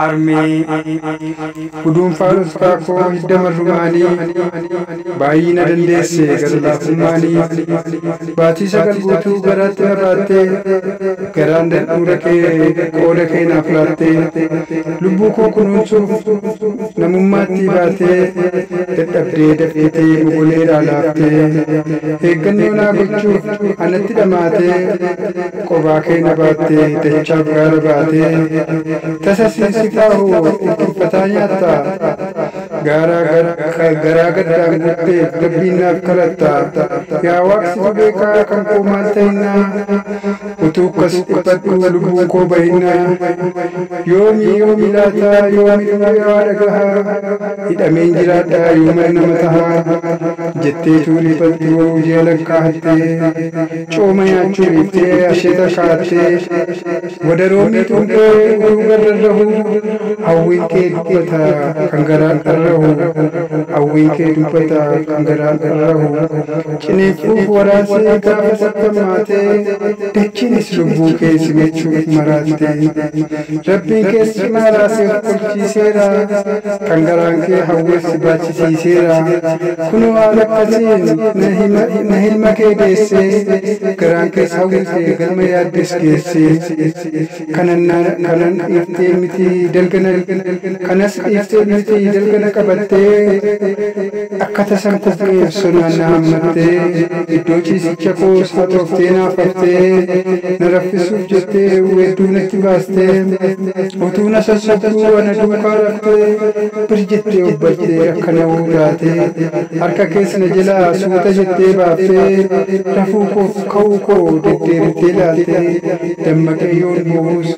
Armee, guduunfaan ulfaa koo hidda marrumaanii, baay'ina dandeesse gara laafummaanii, baatii sagal guutuu garaatti na baattee, garaan dadhuura kee qooda kee naaf laattee, lubbuu koo kunuunsuuf namummaatti baatee, dadhabdee dafqitee mogoleedhaa laaftee, eeggannoo naa gochuuf anatti dhamaatee, qobaa kee na baattee dachaaf gaara baatee tasa siin si baahu dhukkubataa nyaatta gaaraa garaa gaddaan guuttee gabbiin naaf kadhatta yaa waaqsitu beekaa kan koo maal ta'innaa utuu akkas dhiphadhu lubbuu koo bahinnaa yoomii yoomii laataa yoomii dhaga'aa dhagahaa hidhameen jiraadhaa yoomii nama tahaa jettee tuulii baltuu ji'a lakkaa hattee cooma nyaachuu dhiiftee asheeta kaattee wadaroo miixuun kee utuu garra rahu hawwiin kee dubbata kan garaan dharrahu hawwiin kee dubbata kan garaan dharrahu ciniinquuf waraansee gaafa sattammaatee dachiinis lubbuu kee simachuuf maraatte rabbiin kees cimaa raasee kolchiiseera kan garaan kee hawweef si baachisiiseera Kunoo waan akkasiin na hilma kee deessee garaan kees hawwitee galma yaaddes geessee kanan kanan dhiiftee miti dalgana kanas dhiiftee miti dalgana qabattee akka tasan kufee sonaan na hammattee iddoo ciisicha koos haxooftee naaf haftee na raffisuuf jettee weedduu natti baastee Utuu na sossobduu ana duukaa dhuftee bir jettee obbaltee akka na uutaatee harka kees na jalaa suuta jettee baaftee rafuu koof ka'uu koo deddeebiftee ilaaltee dammaqee yoon boo'us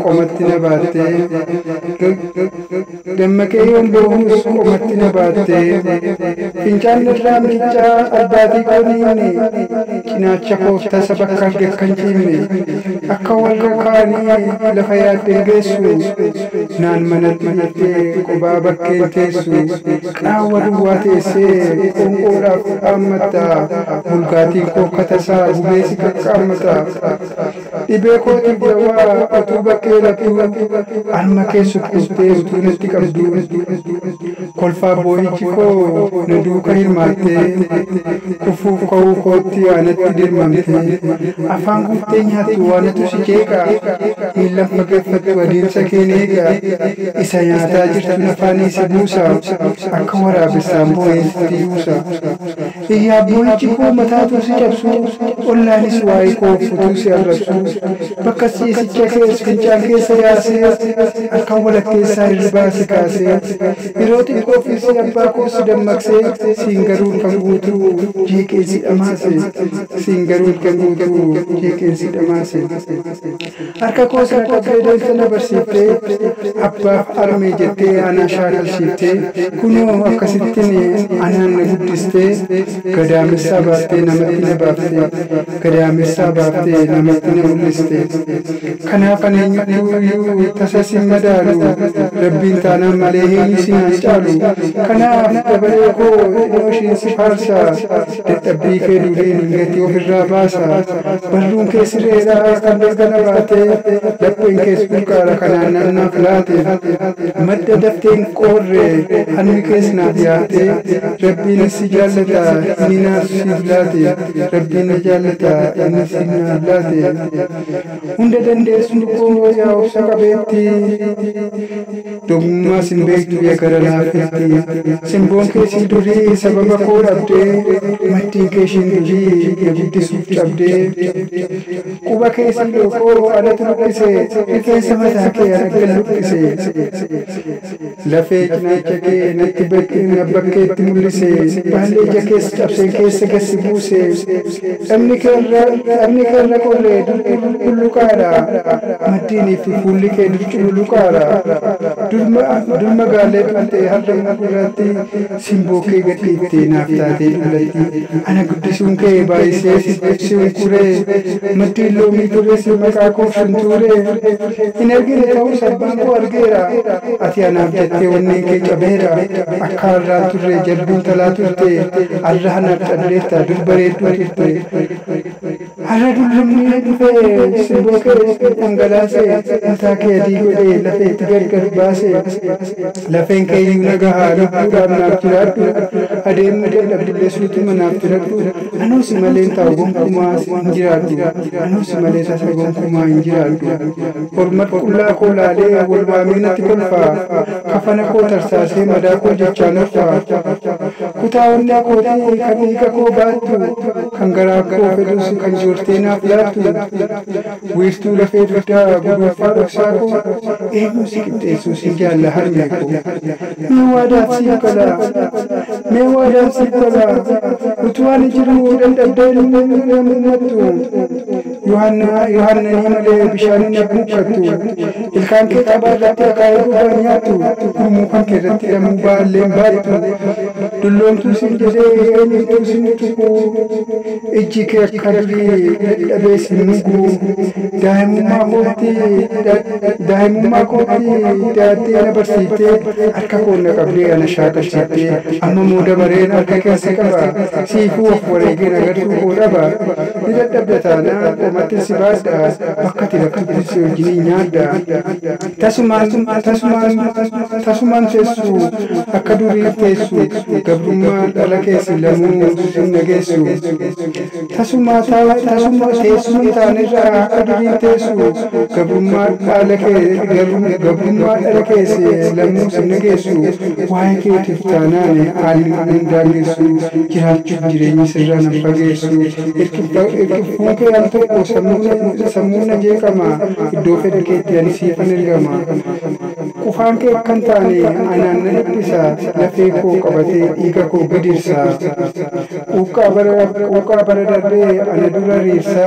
qomatti na baattee Dammaqee yoon boo'uus qomatti na baatte. Fincaan irraa miiccaa albaatii koo dhiibne. Cinaacha koof tasa bakka arge akkan ciibne. Akka warra kaanii lafa yaadden geessu. Naan manatti dhiiftee qobaa bakkeen teessu. Qaawwa duwwaa teessee qoonqoodhaaf dhaammatta. Bulgaatiin koo akka tasaa gubee si qaqqaammata. Dhibee kootiif dawaa utuu bakkee lattuu Harma kee sukkuuttee utuu natti qabduu Kolfaaf boo'ichi koo na duuka hirmaattee Kufuuf ka'uu kootti anatti dirmamtee Afaan guuttee nyaattu anatu si qeeqa Miillan fageeffattu adeemsa keen eega Isa nyaataa jirtun afaanii si buusa Akka waraabessaan boo'een sitti yuusa. Yaabbowichi koo mataa utuu si cabsuu, ollaanis waa'ee koo utuu si arrabsuu, bakka ciisicha kees fincaan keessa yaasee, halkan walakkeessaa hirribaa si kaasee, yeroo xiqqoofis abbaa koos si dammaqsee, siin garuu halkan guutuu jeeqee si dhamaase, siin garuu halkan guutuu jeeqeen si dhamaase. Harka koo isa qabdee deessa na barsiiftee, abbaaf armee jettee anaa shaakalshiiftee, kunoo akkasittin anaan na guddistee, gadaamessaa baaftee namatti na baaftee, gadaamessaa baaftee namatti na mul'istee. Kanaaf ani eenyuttuu iyyuu tasa sin madaalu, Rabbiin taanaan malee eenyu si naan caalu. Kanaaf dabalee koo xinnoo ishiin si faarsa. Dadhabbii kee duriin hin gatii ofirraa baasa. Barruun kee sireedha kan galgala baatee, lapheen kees burqaadha kan aannan naaf laate. Madda dafteen qoorre harmi kees naaf yaate. Rabbiinis si jaallata inni naaf siif laate. Rabbiin na jaallata inni siif naaf laate. Hunda dandeessuu koo yaa obsa qabeetti. Doqmummaa sin beektu ya gara laafeetti. Simboon kee sii durii sababa koo dhabdee, Maddiin kee ishiin durii na guddisuuf cabdee. Quba kee sii lookoo anatu luqqise, Rifeensa mataa kee araggan luqqise. Lafee cinaacha kee natti na bakkeetti mul'ise, Baallee ija kees cabseen keessa gad si buuse. Taphni kee irra qorree dur cululuqaadha, maddiinii fi fuulli kee dur cululuqaadha. Dur magaallee turte har'a immoo gurraattii simboo kee gad dhiifte naaf taatee dullattii. Ana guddisuun kee baay'isee si unkuree, maddiin loomii turre si maqaa koof shuntuuree. Hin argine ta'us abbaan koo argeera, ati anaaf jettee onneen kee cabeera. Akka arra hin turre jabbiin talaa turte arra hanaaf calleessa dur bareedduu turte. Arra dullummee dhufee simboo kee itti dhangalaase mataa kee adii godhee lafee itti gargar baase. Lafeen kee iyyuu na gaha lubbuudhaaf naaf jiraadhu adeemuu dadhabdillee suutuma naaf jiradhu anoo si malee hin taa'u gonkumaa hin jiraadhu anoo si malee tasa gonkumaa hin jiraadhu. Hormat qullaa koo laalee wal waamee natti kolfa. kafana koo tarsaasee madaa koo jechaan of qoraattu. Kutaa onnee kootii kan dhiiga koo baattu, kan garaa koo fedhus kan joortee naaf laattu. Wiirtuu lafee dugdaa gudunfaa dhoksaa koo, eenyuu si qixxeessuu sin jaalla harmee koo. Mee waadaan siif galaa, mee waadaan siif galaa, utuu ani jiruu dadhabdeen hin dhammattu. Yohaannanii malee bishaaniin hin buufattu. Ilkaan kee cabaa irratti akaayee gubaan nyaattu. Gurmuu kan kee irratti lamuu baalleen baay'atu. Dulloomtuu siin jedhee eenyutu siin tuqu. Ijji kee akka durii dadhabee siin nugu. Daa'imummaa kootti daa'imummaa kootti daattee na barsiiftee harka koo na qabdee ana shaakalsiiftee amma moo dabareen harka keessa qaba. Siifuu of wareegeen agartuu koo dhaba. Ni dadhabda taanaan qomattin si baadha, bakka ati rakkattus si wajjinin nyaadha. Tasumaan, tasumaan, tasumaan teessu, akka durii teessu, gabrummaan dhala kee si lamuu sin dhageessu. Tasuma, tasuma, teessuma hin taanerra akka durii teessu, gabrummaa dhaala kee, gabrummaa dhala kee si lamuu sin dhageessu. Waa'ee keetiif taanaan haalli na hin daangessu, jiraachuuf jireenyi sirraa na hin fageessu. Itti al tokko sammuun na jeeqama iddoo fedhu keetti ani siifan ergama. Qufaan kee akkan taane anaan na dhiphisa lafee koo qabatee dhiiga koo gidirsa. Quuqqaa bara darbee ana dura riirsa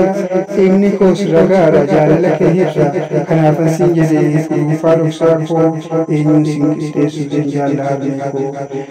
dhiigni koos ragaadha jaalala kee hirra kanaafan siin jedhe gudunfaa dhoksaa koo eenyuun siin qixxeessu siin jaalla harmee koo.